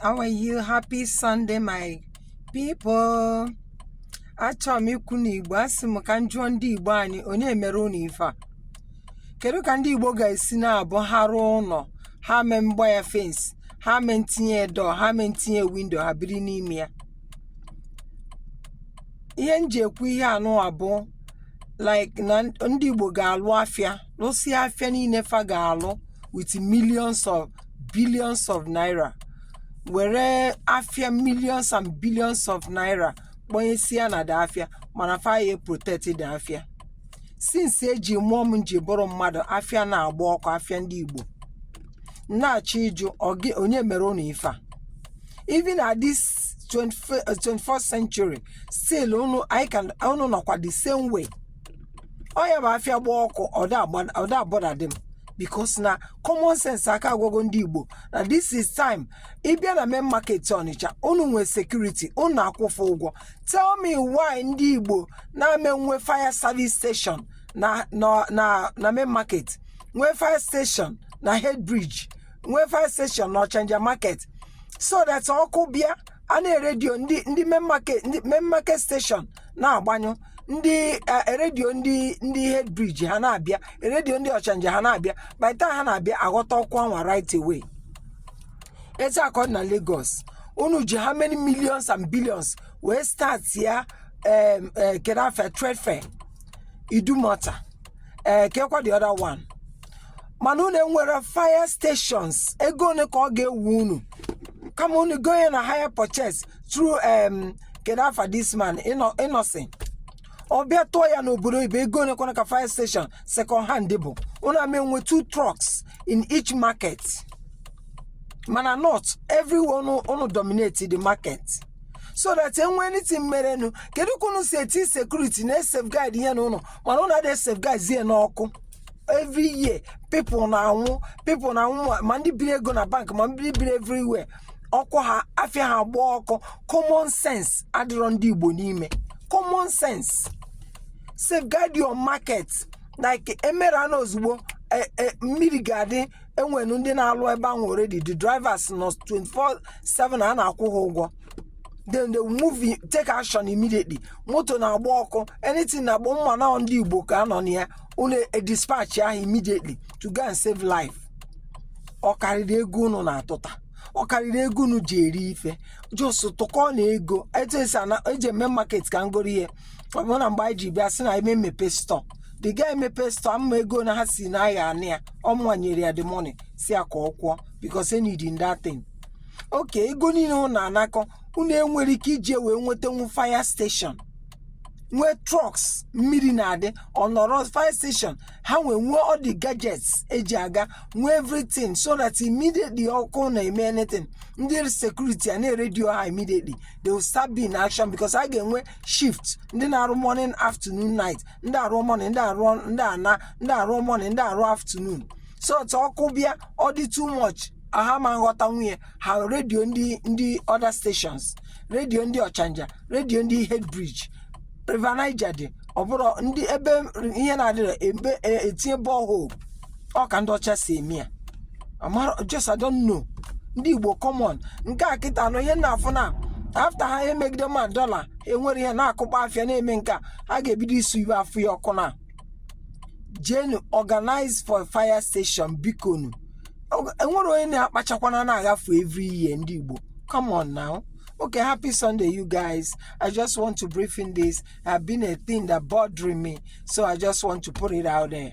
how are you happy sunday my people achọrọ m ikwu n'igbo asị m ka m jụọ ndị igbo anyị onye mere unu ife a kedu ka ndị igbo ga-esi na-abụ ha rụọ ụnọ ha mee mgba ya fence ha mee ntinye door ha mee ntinye window ha biri n'ime ya ihe m ji ekwu ihe anwa bụ like na ndị igbo ga-alụ afịa lụsịa afịa niile fa ga-alụ with mi- billions of naira were afịa millions and billions of naira kpọnyesia na the afịa mana fa ya protect the afịa since eji mụọ m m ji bụrụ mmadụ afịa na-agba ọkụ afịa ndị igbo na-achọ ịjụ ọ gị- onye mere unu ife a even at this 24th century still unu anyị ka- unu nọkwa the same way ọ ya-abụ afịa gba ọkụ ọ da a-bother them because na common sense aka agwago ndị igbo na this is time ị bịa na main market ọnịcha unu nwee security unu na-akwụ fa ụgwọ tell me why ndị igbo na-ama enwe fire service station na na na na main market nwee fire station na head bridge nwee fire station na ọchanja market so that ọkụ bịa a na-eredio ndị ndị main market ndị main market station na-agbanyụ ndị eh, redio ndị ndị head bridge ha na-abịa redio ndị ọchanja ha na-abịa by the time ha na-abịa aghọta ọkụ anwa right away etu a ka ọ dị na lagos unu ji how many millions and billions wee start ya em, eh, kedu afa trade fair idumota ee kekwa the other one mana unu enwerọ fire stations ego one ka ọ ga-ewu unu kama unu gonye na hire purchase through um, kedu afa this man Inno- innocent ọ bịa tụọ ya n'obodo oyibo ego one kwana ka fire station second hand bụ unu ama enwe two trucks in each market mana not everywhere unu dominate the market so that e nwee anything merenụ kedu ka unu si eti security na safeguard ihe unu mana unu ada safeguard zie n'ọkụ every year people na- ma- ma ndị biri ego na bank ma ndị biri everywhere ọkụ ha afịa ha agba ọkụ common sense adịrọ ndị igbo n'ime common sense safeguard your market like emerana ozugbo eh, eh, mmiri ga-adị enwere ndị na-alụ ebe anwa already the drivers nọ 24/7 a na-akwụ ha ụgwọ then they move in- take action immediately moto na-agba ọkụ anything na-agba mma na ndị igbo ka a nọ na ya unu dispatch ha immediately to go and save life ọ karịrị ego unu na-atụta ọ karịrị ego unu ji eri ife just tụkọ na ego etu esi ana- eji eme market ka ngoro ihe ọ bụ na mgbe anyị ji bịa sị na eme mmepe store the guy mepee store ama ego na ha si na ya anị ya ọmụnwa nyere ya the money si ya ka ọ kwụọ because e needi that thing okay ego niile unu na-anakọ unu enwere ike iji wee nwetanwu fire station nwee trucks mmiri na-adị ọ nọrọ fire station ha nwee nwee all the gadgets eji aga nwee everything so that immediately ọkụ na-eme anything ndị security a na-eredio ha immediately they will start being in action because a ga-enwe shift ndị na-arụ morning afternoon night ndị arụ morning ndị arụ ndị ana ndị arụ morning ndị arụ afternoon so otu ọkụ bịa ọ dị too much ha ama aghọtanwu ya ha redio ndị ndị other stations redio ndị ọchanja redio ndị head bridge river niger dị ọ bụrụ ndị ebe ihe na-adịrọ ebe e- etinye borehole ọ ka ndị ọcha si eme ya amara just I don't know ndị igbo come on nke a kịta anụ ihe na-afụ na after ha emegide ma dọla enwere ihe na-akụkpa afịa na-eme nke a a ga-ebido isu ebe afụ ya ọkụ na jenu organize for fire station bikonu Ọ- enwere onye na-akpachakwana na-agafe every year ndị igbo come on now okay happy sunday you guys i just want to brief in this have been a thing that bothering me so i just want to put it out there